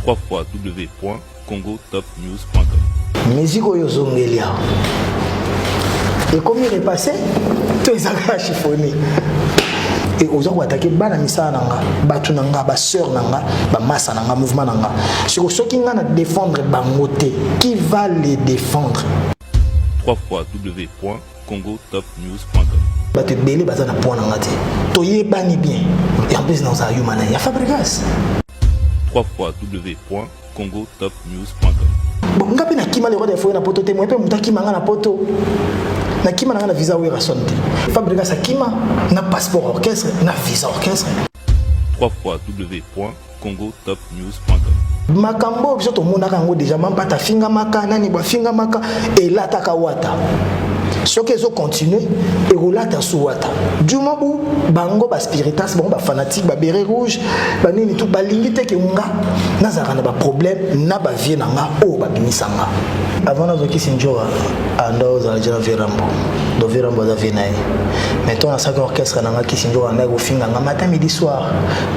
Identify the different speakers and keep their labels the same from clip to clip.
Speaker 1: www.congotopnews.com Musique oyo zongeli
Speaker 2: awa ekomi repasse to ezaka chiffonné et oza koatake bana misala na nga bato na nga basœur na nga bamasa na nga mouvement na nga siko soki nga na défendre bango te qui va les défendre 3 fois w
Speaker 1: congotopnews.com bato ebele
Speaker 2: baza na mpo na nga te toyebani bien et en plus naozala yo mana ya fabrigas 3 fois
Speaker 1: www.congotopnews.com bon
Speaker 2: nga mpe nakima le roi de foye na poto te moye mpe moto akima nga na poto nakima na nga na visa werrason te fabrigas akima na passeport orchestre na visa orchestre 3 fois www congotopnews.com
Speaker 1: makambo oyo biso tomonaka
Speaker 2: yango deja mampata afingamaka nani bo afingamaka elataka wata soki ezo continue ekolata su wata du moment où bango baspiritas bango bafanatique babere rouge banini tout balingi te ke nga nazalaka na baproblème na bavie na nga oyo babimisa nga avant nazokisi njoa anda ozala jela verambo do verambo aza vie na ye mais ntango nasalaki orchestre na nga kisi njoa andaki kofinga nga matin midi soir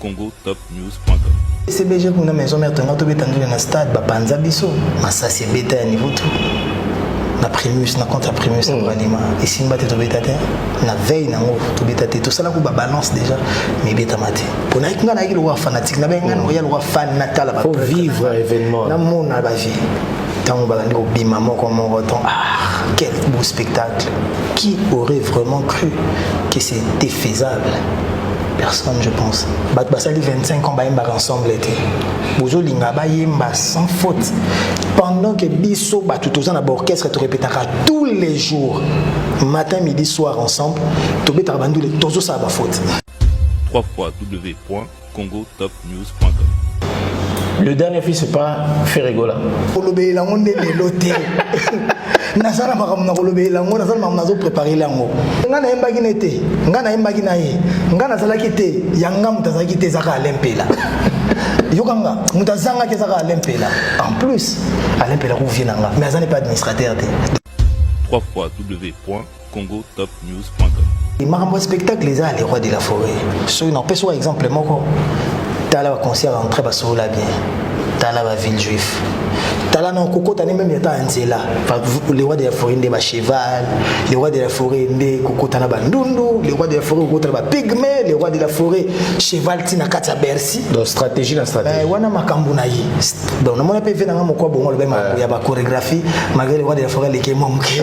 Speaker 1: congotopnews.com CBG
Speaker 2: kuna maison mère tonga tobeta ndule na stade bapanza biso masasi ebeta ya niveau tout na primus na contre primus na banima mm. esimba te tobeta te na veille nango tobeta te tosalaki babalance déjà mais ebetama te mpo nayaki ngai nayaki lokola fanatique nabai ngai nakoya lokola fan natala vivre événement
Speaker 3: namona bavie
Speaker 2: ntango balandi kobima moko moko ton ah quel beau spectacle qui aurait vraiment cru que c'était faisable personne je pense bato basali 25 ans bayembaka ensemble te bozolinga bayemba sans faute pendant que biso bato toza na baorchestre torepetaka tous les jours matin midi soir ensemble tobetaka bandule tozosala bafaute www.congo
Speaker 3: Le dernier fils c'est pas Ferregola. Kolobela ngo
Speaker 2: nde lelo te. naza na makambo na kolobela yango naza na makambo nazo prépare yango ngai nayembaki ne te ngai nayembaki na ye ngai nazalaki te ya ngai moto azalaki te ezaka alempela yokanga moto azangaki ezaka alempela en plus alempela kovie na ngai mais aza ne pas administrateur te 3 fois w
Speaker 1: Congo Top News. makambo
Speaker 2: ya spectacle eza le roi de la forêt soki napesi wa exemple moko tala baconcert entre basolola bien tala baville juif tala na kokota ne meme ata ya nzela le roi de la forêt nde bacheval le roi de la forêt nde kokota na bandundu le roi de la forêt kokota na bapigme le roi de la forêt cheval ti na kati ya bercy donc stratégie na
Speaker 3: stratégie wana makambo na ye
Speaker 2: donc namoni mpe ve nanga moko abongo alobai makambo ya bachorégraphie malgré le roi de la forêt aleki mwa moke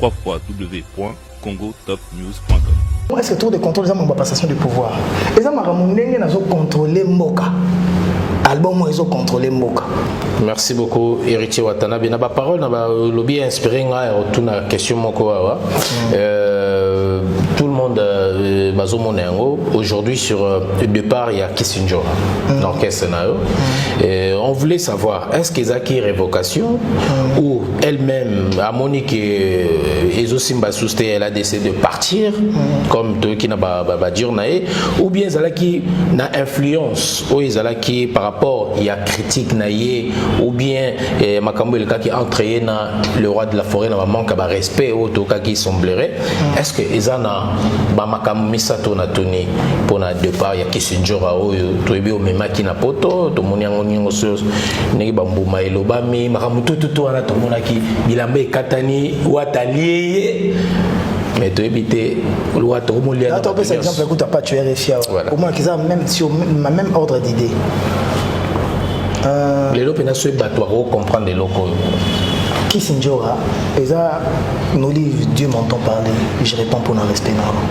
Speaker 1: www.congotopnews.com Est-ce que tour
Speaker 2: de contrôle eza makambo ya passation de pouvoir eza makambo ndenge nazo contrôler mboka album oyo ezocontrole mboka merci beaucoup
Speaker 3: héritier watanabe na baparole na balobi ya inspiré ngai ya kotuna question moko awa mm. euh, tout le monde euh, bazomona yango aujourd'hui sur euh, départ ya kissinjora mm. na orchestre na yo mm. on voulait savoir est ce que ezalaki révocation mm. ou elle-même a moni que euh, ezo simba sous elle a décidé de partir mm. comme de qui n'a ba ba, ba dire nae ou bien qui na influence ou qui par rapport il y a critique nae ou bien eh, makambo le cas qui entre na le roi de la forêt na manque ba respect ou tout cas qui semblerait mm. est-ce que ezana ba makambo misato na tuni pona départ ya Kissinger oyo toyebi omemaki na poto tomoni yango nyongo ndenge bambuma elobami makambo tututu wana tomonaki bilamba ekatani wata alie ye mais toyebi te lwa tokomoliatopesa exemple ekuta
Speaker 2: pacho ya refi awa omonaki eza même sur ma même ordre d'idée euh,
Speaker 3: lelo mpenza soki bato bakocomprendre eloko oyo kisindjora
Speaker 2: eza nolive dieu m'entend parler je réponds mpona respect na yango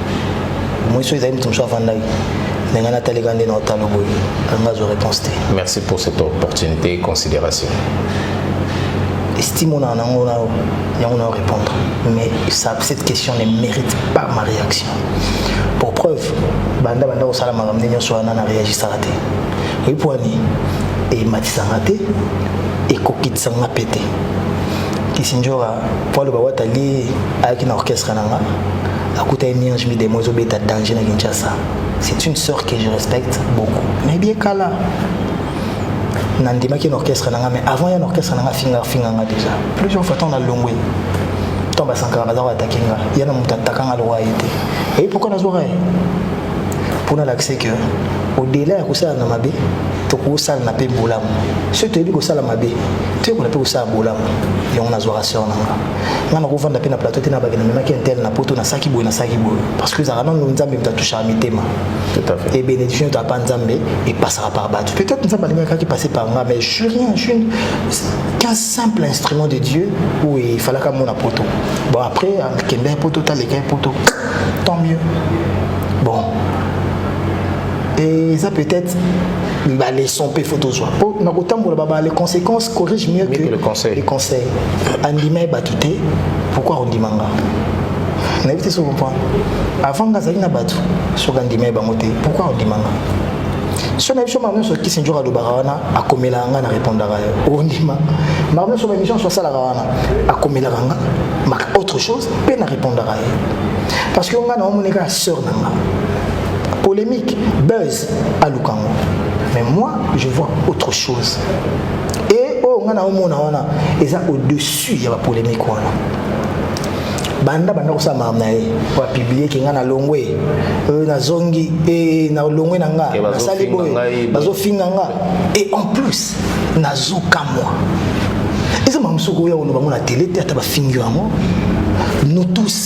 Speaker 2: moiso ezali moto mosusu afandaki na ngai natalika nde na otalo boye
Speaker 3: anga azwa réponse te merci pour cette opportunité et considération
Speaker 2: estime onaa nango na yango na répondre mais ça, cette question ne mérite pas ma réaction pour preuve banda banda kosala makambo nde nyonso wana na réagisaka te oyi mpo ani ematisanga te ekokitisanga mpe te kisinjora mpo aloba watali ayaki na orchestre na nga akuta ye mierge midemo ezobeta danger na kinshasa C'est une sœur que je respecte beaucoup. Mais bien kala nandimaki na orchestre nanga mais avant ya na orchestre nanga finga finga nga déjà plusieurs fois ntango nalongwe ntango basankaka baza koatake nga ya na moto ataka nga lokola ye te eyi pourkui nazwaka ye mpo nalakise que odela ya kosala na mabe tokosalana mpe bolamu soki toyebi kosala mabe toyekola mpe kosala bolamu yango nazwaka seur nanga nga nakovanda mpe na plateau te na bake namemaki intel na poto nasalaki boye nasalaki boye parce que ezalaka nano nzambe moto atouchaka mitema e
Speaker 3: bénédiction to apa nzambe
Speaker 2: epasaka par bato peut-être nzambe alingakaki passer par nga mais je rien je suis qu'un simple instrument de dieu où il falaka mona poto bon après akenda ya poto taleka ya poto tant mieux bon et ça peut-être ba leçon pe faut tozwa po na kotambola baba les conséquences corrige mieux, mieux que, que le conseil les conseils andima ye bato te pourquoi ondima nga nayebi te soki comprendre avant nga azali na bato soki andima ye bango te pourquoi ondima nga so nayebi so makambo nyonso kisinjor alobaka wana akomelaka nga na répondaka ye ondima makambo nyonso baémission nyonso asalaka wana akomelaka nga ma autre chose mpe na répondaka ye parce que nga na omoni kaka sœur na nga polémique buzz aluka yango mais moi je vois autre chose et oyo ngai naomona wana eza au-dessus ya bapolémique wana banda banda kosala makambo na ye po apiblie ke ngai nalongwe euh, nazongi e nalongwe na nga nasali boye bazofinga nga et en plus nazokamwa eza makambo soki oya koloba ngo na tele te ata bafingi yango nous tous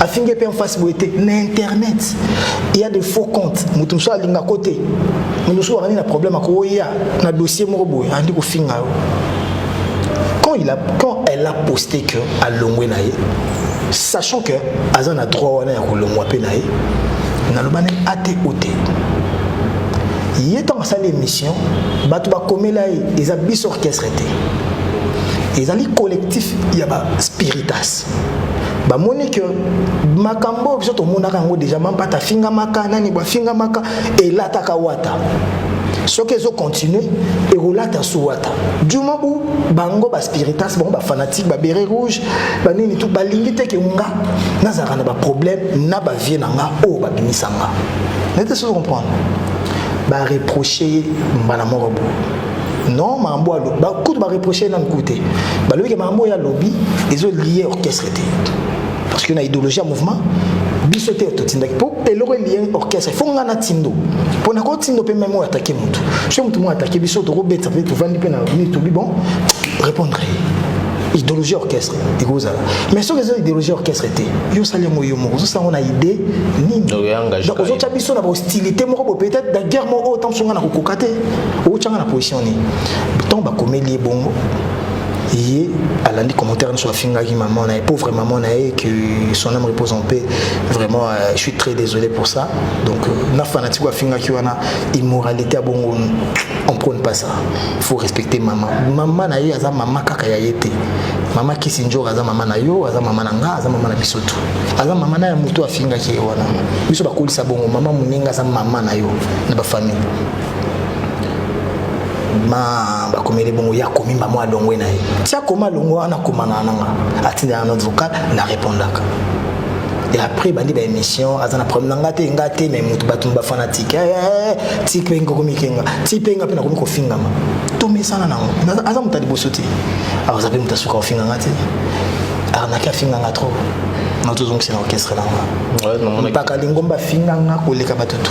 Speaker 2: afingi mpe en face boye te na internet il y a des faux comptes moto mosusu alinga ko te moto mosusu akandi na problème akoya na dossier moko boye andi kofinga yo quand, il a, quand elle a posté que alongwe na ye sachant que aza na droit wana ya kolongwa mpe na ye naloba nani ate o te ye ntango asali émission bato bakomela ye eza biso orchestre te ezali collectif ya ba spiritas bamoni que makambo oyo biso tomonaka yango deja mampata afingamaka nani bafingamaka elataka wata soki ezokontinue ekolata su wata duma bu bango baspiritas bango bafanatique babere rouge banini tu balingi te ke nga nazalaka na baproblème na bavie na nga oyo babimisa nga nete sozo comprendre bareproche ye mbala moko boye non makambo alobi kutu bareproche nanu kutu te balobi ke makambo oyo alobi ezo lie orchestre te parce que na idéologie ya mouvement biso te totindaki mpo eloko elie orchestre fo ngai natindo mpo nakotindo mpe meme oyo atake motu so motu moko atake biso tokobeta mpe tovandi mpe na mini tobi bon répondre idéologie orchestre ekozala mais soki eza idéologie orchestre te yo osali yango yo moko ozosala yango na idée nini ozotya biso na bahostilité moko bo peut-être na guerre moko oyo ntango songa na kokoka te otyanga na position nini ntango bakomeli ye bongo ye alandi commentaire nyonso afingaki maman na ye pauvre maman na ye que son âme repose en paix vraiment euh, je suis très désolé pour ça donc euh, na fanatique afingaki wana immoralité ya bongo on prône pas ça faut respecter maman maman na ye aza maman kaka ya ye te mama kisinjor aza mama na yo aza mama na nga aza mama na biso tu aza mama na ya moto afingaki ye wana biso bakolisa bongo mama moninga aza mama na yo na bafamille ma bakomeli bongo ya komimba mwa alongwe na ye ti akoma alongwe wana akomana nanga atindela na vocal na repondaka et après bandi ba émission aza na problème nanga te nga te mais mutu batu ba fanatique eh, eh, eh, ti pe ngoko mikenga ti pe nga pe na komi ko fingama to mesana nango aza mutu liboso te alors zape mutu asuka ofinga nga te arnaque afinga nga trop na tozongisa na orchestre nanga mpaka lingomba afinga nga koleka batutu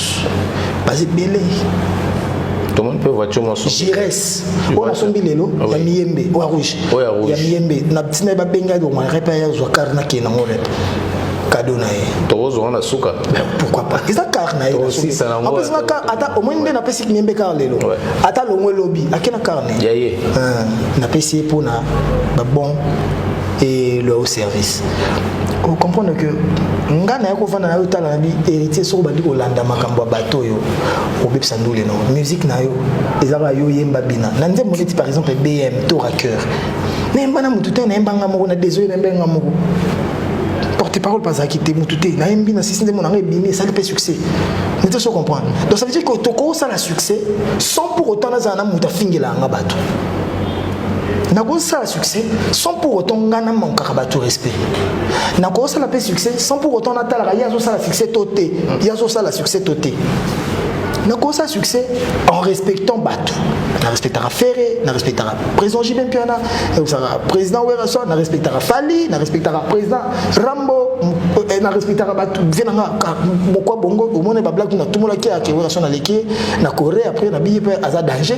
Speaker 2: baza ebele
Speaker 3: tomoni mpe voiture mosusu gires oyo
Speaker 2: nasombi lelo ya miyembe oyo rouge ya miyembe na ntina babenga elongo repa ya zwa kar nakende yango repa kado na ye tokozwa na suka
Speaker 3: pourquoi pas eza
Speaker 2: kar na yeapesanga
Speaker 3: kar ata
Speaker 2: omoni nde napesi miyembe kar lelo ata longo elobi ake na kar na ye
Speaker 3: napesi
Speaker 2: ye mpo na babon et leur service au comprendre que nga naye kovanda nayo otala na bi héritier soko obandi kolanda makambo ya bato oyo obebisa ndule no musique na yo eza kaka yo oyemba bina na nzembo neti par exemple bm to raqueur nayemba na motu te nayemba nga moko na désolé nayemba nga moko porte parole bazalaki te motu te nayembi na sisi nzembo na nga ebimi esali mpe succès nete so comprendre donc ça veut dire que tokosala succès sans pour autant nazala na moto afingela yanga bato nakosala succès sans pour autant ngai namankaka bato respect nakosala mpe succès sans pour autant natalaka ye azosala succès to te ye azosala succès to te nakosa succès en respectant bato na respectaka ferre na respectaka président jibe mpiana naosaka président werrason na respectaka fali na respectaka président rambo eh, na respectaka bato vie na nga mokwa bongo omoni bablaki natumolaki ake werrason aleki na corée après na biye mpe aza danger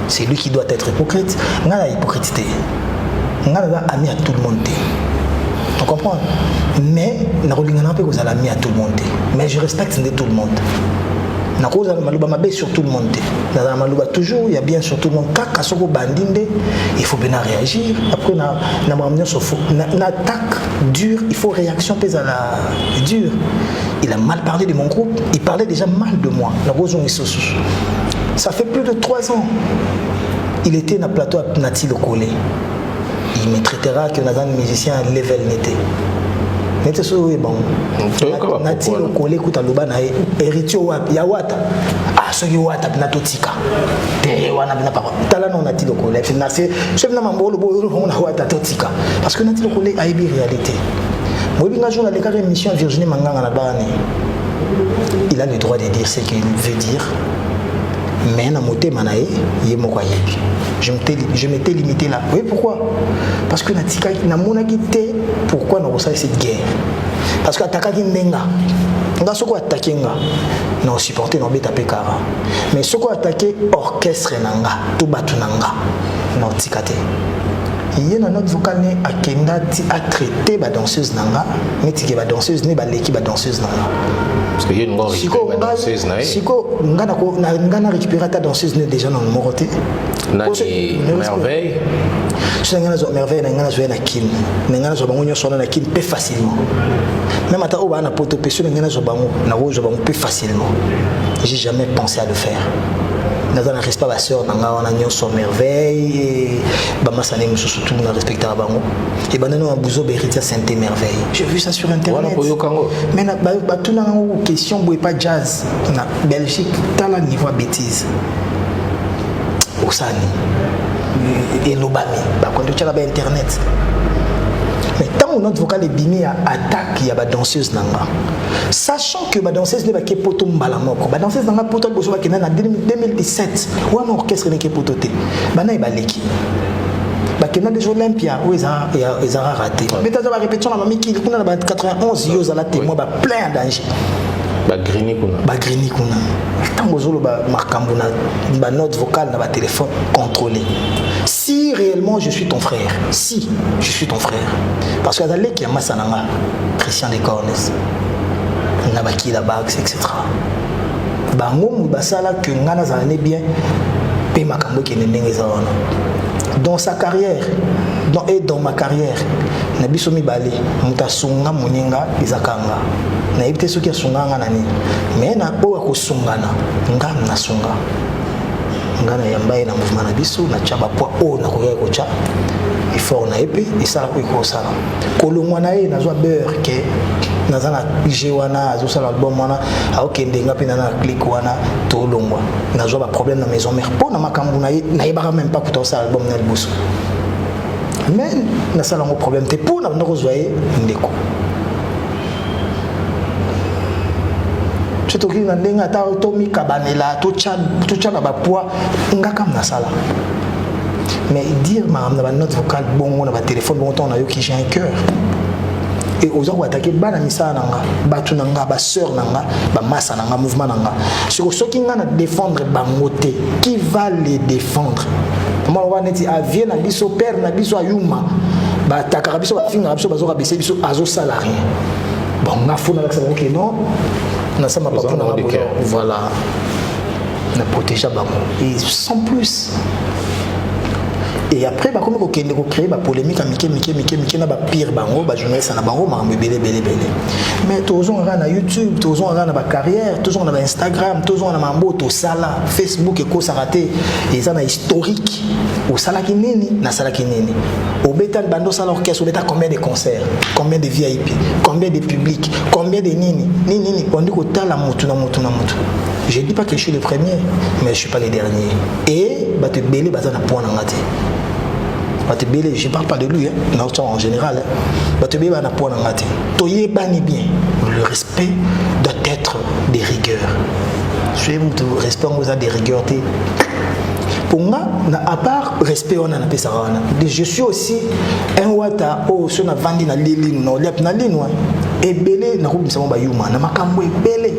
Speaker 2: c'est lui qui doit être hypocrite nga na hypocrite te nga naza ami ya tout le monde te on comprend mais nakolingana mpe kozala ami ya tout le monde te mais je respecte nde tout le monde nakozala maloba mabe sur tout le monde te nazala maloba toujours ya bien sur tout le monde kaka soki obandi nde il faut mpe na réagir après na makambo nyonso fo na attaque dur il faut réaction mpe ezala dur il a mal parlé de mon groupe il parlait déjà mal de moi nakozongisa lisusu ça fait plus de 3 ans il était na plateau ya nati lokole il me traitera que naza musicien ya level nete nete soki oyo ebango nati lokole kuta loba na ye héritier wapi ya wata ah soki wata mpena totika te wana mpena papa tala nao nati lokole mpena se soki mpena mambo olobo oyo na wata totika parce que nati lokole ayebi réalité boyebi nga jour nalekaka émission virginie manganga na bana il a le droit de dire qu'il veut dire mais na motema na ye ye moko ayebi je m'étais limité là oui pourquoi parce que natikaki namonaki te pourquoi nakosala cette guerre parce que atakaki ndenga nga soko atake nga na osupporte na obeta mpe kara mais soko atake orchestre na nga to bato na nga na otika te ye na note vocal ne akenda ti atraite badanseuse na nga netike badanseuse ne baleki badanseuse na nga
Speaker 3: sikoyo
Speaker 2: nga na récupéré ata danseuse ne déjà na moko te
Speaker 3: merveille so na
Speaker 2: ngai nazwa merveille na ngai nazwa ye na kin na ngai nazwa bango nyonso wana na kin mpe facilement même ata oyo baa na poto mpe so na ngai nazwa bango nakozwa bango mpe facilement j'ai jamais pensé à le faire naza na respect basœur na ngai wana nyonso merveille bamasani mosusu tu na respectaka bango Et ben non, Bouzo Beritia Sainte Merveille. J'ai vu ça sur internet. Mais na ba tout na question boy pas jazz na Belgique, t'as la niveau bêtise. Osani. Et Lobami, ba quand tu as la internet. Mais tant notre vocal est bimé à attaque, il y a ba danseuse nanga. Sachant que ba danseuse n'est pas que poto mbala moko. Ba danseuse nanga poto bozo ba kena na 2017. Ou un orchestre n'est que poto te. Bana e baleki. bakenda deja olympia oyo ezalaka rate mpe taza barépétition na mamikili kuna na ba 91 yo ozala témoin ba plein ya danger bagrini
Speaker 3: kuna bagrini kuna ntango ozoloba makambo na banote vocale na batelefone contrôlé si réellement je suis ton frère si je suis ton frère parce que aza leki ya masa na nga christian de cornes na bakila bax etc bango mu basala que nga nazala ne bien pe makambo ekende ndenge eza wana dans sa carrière dans, et dans ma carrière na biso mibale moto asunga moninga eza kanga nayebi te soki asunga nga na nini me na oyo akosungana nga nasunga nga nayamba ye na mouvement na biso natya bapoi oyo nakoyaki kotya effort na ye mpe esalaka oyo ekosala kolongwa na ye nazwa beurre ke naza na g wana azosala album wana aokende nga mpe na na clike wana tolongwa nazwa baproblème na maison mère mpo na makambo na ye nayebaka meme pas kuta osala album na liboso mais nasala yango problème te mpo na banda kozwa ye ndeko so tokoki na ndenge ata tomikabanela totyana bapoids nga kam nasala mais dire makambo na ba note vocale bongo na ba téléphone bongo ntango nayoki j'ai un cœur e oza koatake bana misala na nga bato na nga basœur na nga bamasa na nga mouvement na nga siko soki ngai na défendre bango te qui va les défendre maloba neti avie na biso père na biso ayuma batakaka biso bafingaka biso bazoka bese biso azosala rien bon nga fo nalakisa bango ke non nasamba papo na nga voilà na protégea bango et sans plus et après bakomi kokende kocree bapolémike ya mike mike mike mike na bapire bango bajournaliste na bango makambo ebele ebele ebele mais tozonga kaka na youtube tozonga kaka na bacarrière tozonga na bainstagram tozonga na mambo tosala facebook ekosaka te eza na historique osalaki nini nasalaki nini obeta libanda osala orchestre obeta combien de concert combien de vip combien de public combien de nini nini nini ondi kotala motu na motu na motu Je dis pas que je suis le premier, mais je suis pas le dernier. Et bah te belé bah na point ngati. Bah te belé, je parle pas de lui, hein, non, en général. Hein. Bah te belé bah na point ngati. Toyé bani bien. Le respect doit être des rigueurs. Soyez mutu respect on vous a des rigueurs te. Pour moi, à part respect on a na pesa wana. Je suis aussi un wata oh sur na vandi na lili no, liap na lino. Hein. Ebele na kubisa mo ba yuma na makambo ebele.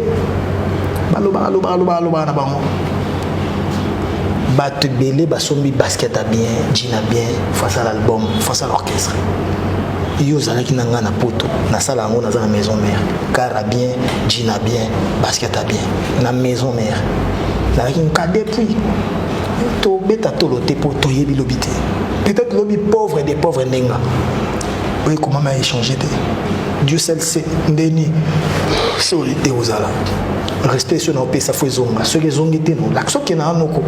Speaker 3: balobaka lobaka lobaka lobaka na bango bato ebele basombi basket ya bien jina bien face à l'album face à l'orchestre yo ozalaki na ngai na poto nasala yango naza na maison mère car a bien jina bien basket a bien na maison mère nazalaki nkade puis tobeta tolo te mpo toyebi lobi te peut-être lobi pauvre des pauvres ndenga oyo ekomama échange te dieu seul se ndeni sori ekozala respect so naopesa fo ezonga soki ezongi te nolakisa okenda na noko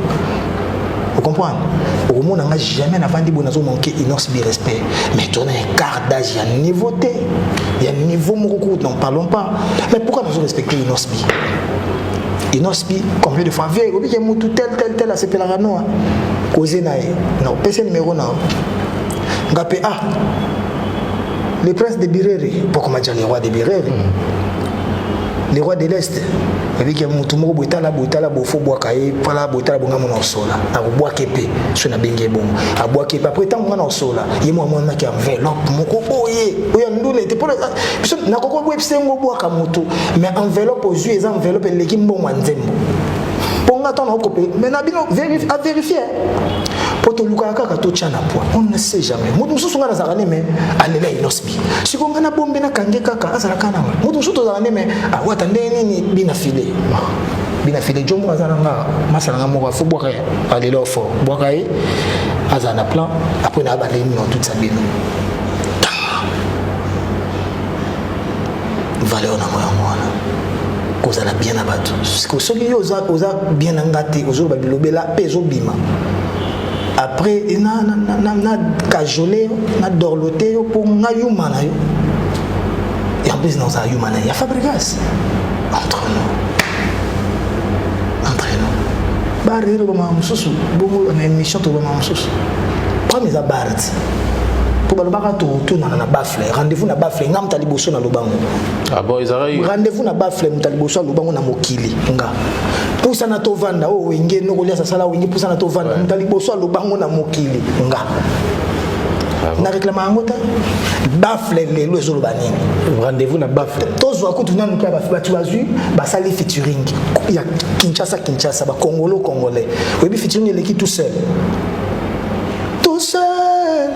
Speaker 3: ocomprendre okomona nga jamais navandi boye nazomanke inonce bi respect mais tona écart d'âge ya niveau te ya niveau moko kutu n'en parlons pas mais pourquoi nazo respecte inonce bi inonce bi combien de fois vie obike mutu tel tel tel asepelaka noa koze na ye na opesa numero na nga mpe ah le prince de birere poko majani roi de birere mm. le roi de l'est abiki motu moko boye tala boye tala bofo bwaka ye pala boye tala bonga mona osola akobwake mpe so nabengi ye bongo abwake mpe apres ntango mwana osola ye mwa mwanaki enveloppe moko boye oyo nduna ete mpo biso nakoki obwebisa yango obwaka motu mais enveloppe ozwi eza enveloppe eleki mbongo ya nzembo mpo nga ntango nakokope mais na bino averifie po
Speaker 2: tolukaka kaka totya na poi on ne sait jamais moto mosusu ngai nazalaka ne me alela inosbi siko ngai na bombe nakange kaka azalaka nanga moto mosusu tozalaka ne me awata ah, ndenge nini bina file bina file jo moko aza na nga masala nga moko afo bwaka ye alela ofo bwaka ye azala na plan apres na abandeli nino tutisa bino valeur na ngo yango wana kozala bien na bato soki yo oza, oza bien na nga te ozoloba bilobela mpe ezobima après na, na, na, na, na kajole yo na dorlote yo mpo nga yuma na yo et en plus naozala yuma na ye ya fabrigas entre nous entre nous bar ere bamaka mosusu bongo na émission tobamaka mosusu problème eza bar ti mpo balobaka totunana na bas bafle rendez-vous na bafle nga moto ya liboso na lobango ah
Speaker 3: rendez-vous na bafle moto ya
Speaker 2: liboso ya lobango na mokili nga pusana tovanda oyo oh, wenge nokoliasa sala wenge pusana tovanda moto ya liboso ya lobango na mokili nga na reklama yango te bafle lelo ezoloba nini rendez-vous na bafle
Speaker 3: tozwa kutu nanu
Speaker 2: mpe bato bazwi basali featuring ya kinshasa kinshasa bakongolo congolais oyebi featuring eleki tout seul Tout seul,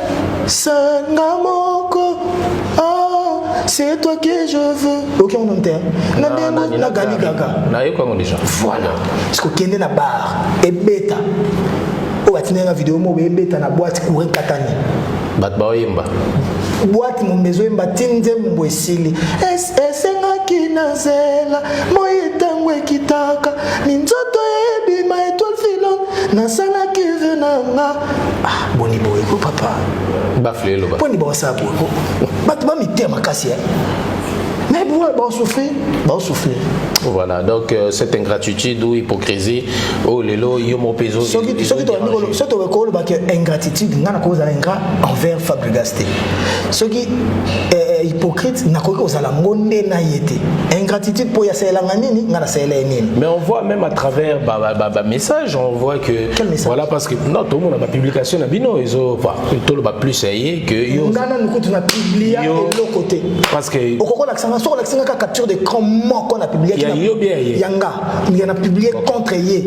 Speaker 2: seul nga moko oh, c'est toi que je veux oke ngo nte na ndengo na gali gaga nayoki yango déjà
Speaker 3: voilà sikokende
Speaker 2: na bar ebeta oyo atindaki na video moko ebeta na boite courant katani bato baoyemba
Speaker 3: boite
Speaker 2: mombe ezoyemba ti nzembo esili esengaki na zela moi ntango ekitaka minzoto ebima etoile filon nasalaki ve na nga ah, boni boye ko papa bafleloponi
Speaker 3: baosala boye
Speaker 2: ko bato bamitea makasi ya mais boye baosouffrir baosouffrir
Speaker 3: voilà donc euh, cette ingratitude ou hypocrisie oyo oh, lelo yo moko mpe soki tokoki
Speaker 2: koloba ke ingratitude ngai nakozala ingrat envers fabrigas te soki eh, eh, hypocrite nakoki kozala ngo nde na ye te ingratitude mpo yasalelanga nini ngai nasalela ye nini mais on voit même à
Speaker 3: travers bamessage on voit que voilà parce que
Speaker 2: non tomona
Speaker 3: bapublication na bino ezo toloba plus ya ye que yo ngai nanu kutu na publia
Speaker 2: eloko te parce que
Speaker 3: okokolakisanga soki olakisanga
Speaker 2: kaka capture de cran moko na publiaki ya nga ya na publie contre ye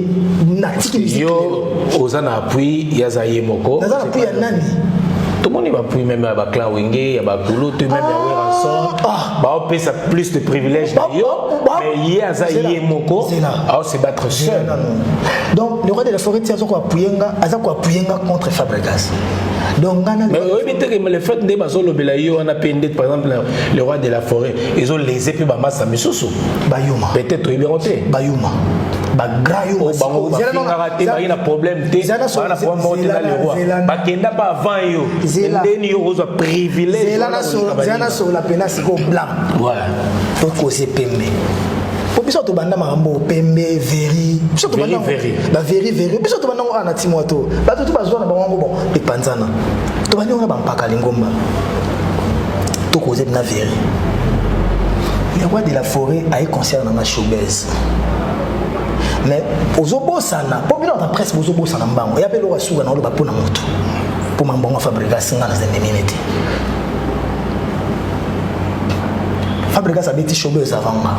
Speaker 2: natiki yo
Speaker 3: oza na appui ya za ye moko naza na appui ya nani
Speaker 2: tomoni
Speaker 3: bapui meme ya baclan wenge ya bakulutu meme ya weranson ah, ah. baopesa plus de privilège na yo mais ye aza ye moko aose battre seul donc
Speaker 2: le roi de la forêt ti aza koapuye nga aza koapuye nga contre fabrigas donc ngana mais oyebi te
Speaker 3: que le fait nde bazolobela yo wana mpe nde par exemple le roi de la forêt ezo lese mpe bamasta misusu bayuma peut-être
Speaker 2: toyebi yango te
Speaker 3: bayuma
Speaker 2: bagrand yo oh, bango bafingaka
Speaker 3: te baye na problème te baa na problème moko te na leroy bakenda mpe avant yo ndeni yo okozwa privilège zela nasolola
Speaker 2: mpena sikoyo blanc
Speaker 3: tokoze
Speaker 2: pembe po biso tobanda makambo pembe veri biso tobanda baveri veri biso tobanda ngo awa na timwa to bato to bazwa na bango yango bon epanzana tobandi ngo na bampaka lingomba To cause na veri. Le roi de la forêt a eu concert na ma showbiz. Mais ozobosana, po bino na presse bozobosana mbango. Ya pe loka suka na oloba pona moto. Po mambongo Fabregas nga na zende minute. Fabregas abeti showbiz avant nga.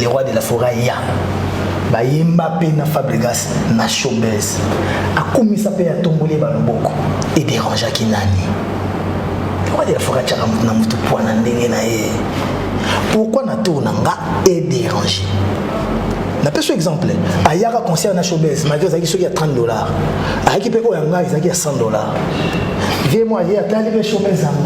Speaker 2: le roi de la foret ya bayemba mpe na fabregas na showbase akumisa mpe atomboli ye baloboko ederangeaki nani le roi de la foret atyaka motu na motu pwa na ndenge na ye pourquoi na tour na nga ederange napesi exemple ayaka concert na showbase malgre ezalaki soki ya 30 dollars ayaki mpe oyo ya ngai ezalaki ya 100 dollars vie moi ye atali mpe showbase yango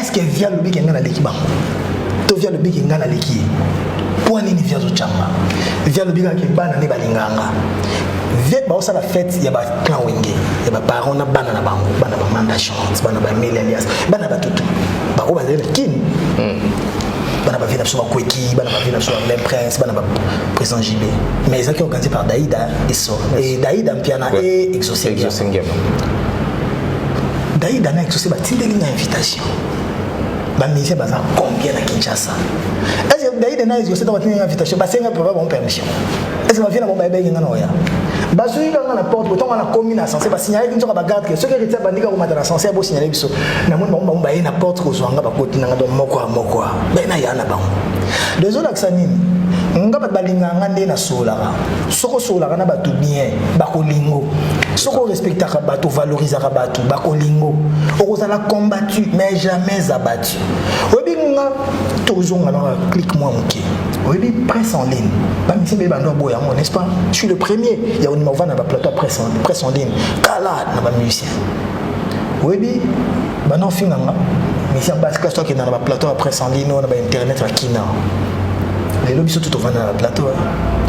Speaker 2: eske via lobi ke ngai naleki bango to via lobi ke ngai naleki ye mpo nini via azotyanga via lobi kaka ke bana nde balinganga vie baosala fete ya baclan wenge ya baparent na bana na bango bana bamanda chance bana bameli alias bana batutu baoyo bazali na kin hmm. bana bavie na biso bakweki bana bavie na biso bamem prince bana baprésident jb mais ezalaki organise par daida eso daida mpiana e exosengema Daida na Exauce batindeli nga invitation. Ba musiciens baza combien na Kinshasa? Est-ce que Daida na Exauce batindeli nga invitation basenga papa bon permission? Est-ce que ba viena bon ba ebengi nga na oya? bazwi kaka na porte botongo wana komi na ascenseur basignalaki nzoka bagarde ke soki heritier abandika komata na ascenseur bosignale biso namoni bango bango baye na porte kozwa nga bakoti nanga don moko ya moko ya baye na ya na bango dezolakisa nini nga bato balingaka nga nde nasololaka soki osololaka na bato bien bakolingo soki orespectaka bato ovalorisaka bato bakolingo okozala combattu mais jamais abattu oyebi nga tozonga na clique mwa moke oyebi presse en ligne bamisi mpe bando aboya yango n'est ce pas je suis le premier ya ondima kovanda na baplateau ya presse en ligne kala na bamusicien oyebi banda ofinga nga mesi ya basi kasi tokenda na baplateau ya presse en ligne oyo na bainternet ya kina lelo biso tu tovanda na baplateau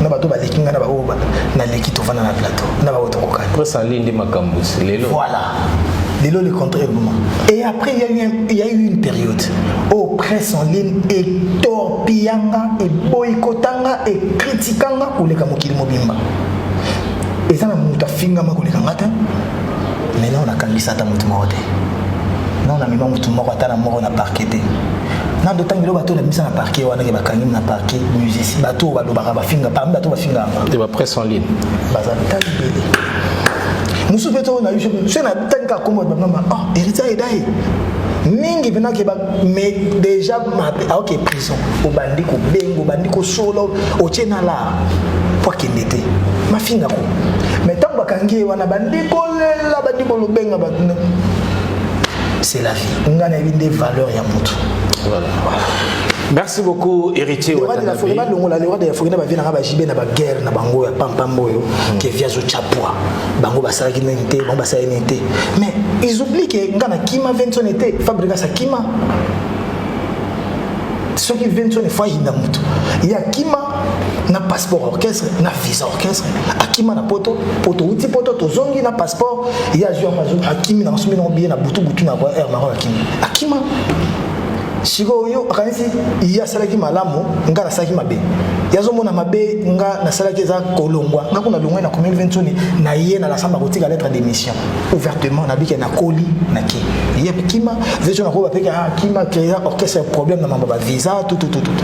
Speaker 2: na bato baleki ngai na baoyo naleki tovanda na plateau na baoyo tokokani presse en ligne nde makambo
Speaker 3: lelo voilà
Speaker 2: lelo le contraire eboma et après il y, a eu un, il y a eu une période oyo oh, presse en ligne etorpilla nga eboyikota nga ekritika nga koleka mokili mobimba eza na moto afingama koleka nga te mais nao nakangisa ata motu moko te nao namema motu moko ata na moko na parke te na dotangi lo bato nabimisa na parquet wana ke bakangi na parquet musicien bato oyo balobaka bafinga parmi bato bafinga yango te bapresse en ligne
Speaker 3: baza tali
Speaker 2: bele mosusu mpe too na yo soki natangi kaka kombo bamama oh héritier ayeda ye mingi mpena ke mais déjà mabe aoke prison obandi kobenga obandi kosolo otie na la po akende te mafinga ko me ntango bakangi ye wana bandi kolela bandi kolobenga bato c'est la vie ngai nayebi nde valeur ya motu voilà.
Speaker 3: voilà. merci beaucoup héritier balongola
Speaker 2: le roi de la forêt na bavie nanga bajibe na baguerre na bango ya pampamba oyo hmm. ke viazo chapua bango basalaki nini te bango basalaki nini te mais ils oublient ke nga na kima venson ete fabrigas akima soki venson efo ayinda moto ye akima na passeport orchestre na visa orchestre akima na poto poto uti poto tozongi na passeport ye azwi yango azwi akimi na masumi nango biye na butu butu na air maroc akimi akima sikoyo yo akanisi ye asalaki malamu ngai nasalaki mabe ye azomona mabe ngai nasalaki eza kolongwa ngai kuna longwai na commune vensoni na ye na lasamba kotika lettre d'émission ouvertement nabike nakoli nake ye kima veso nakoba peke akima ah, créa orchestre problème na mambo ba visa tututututu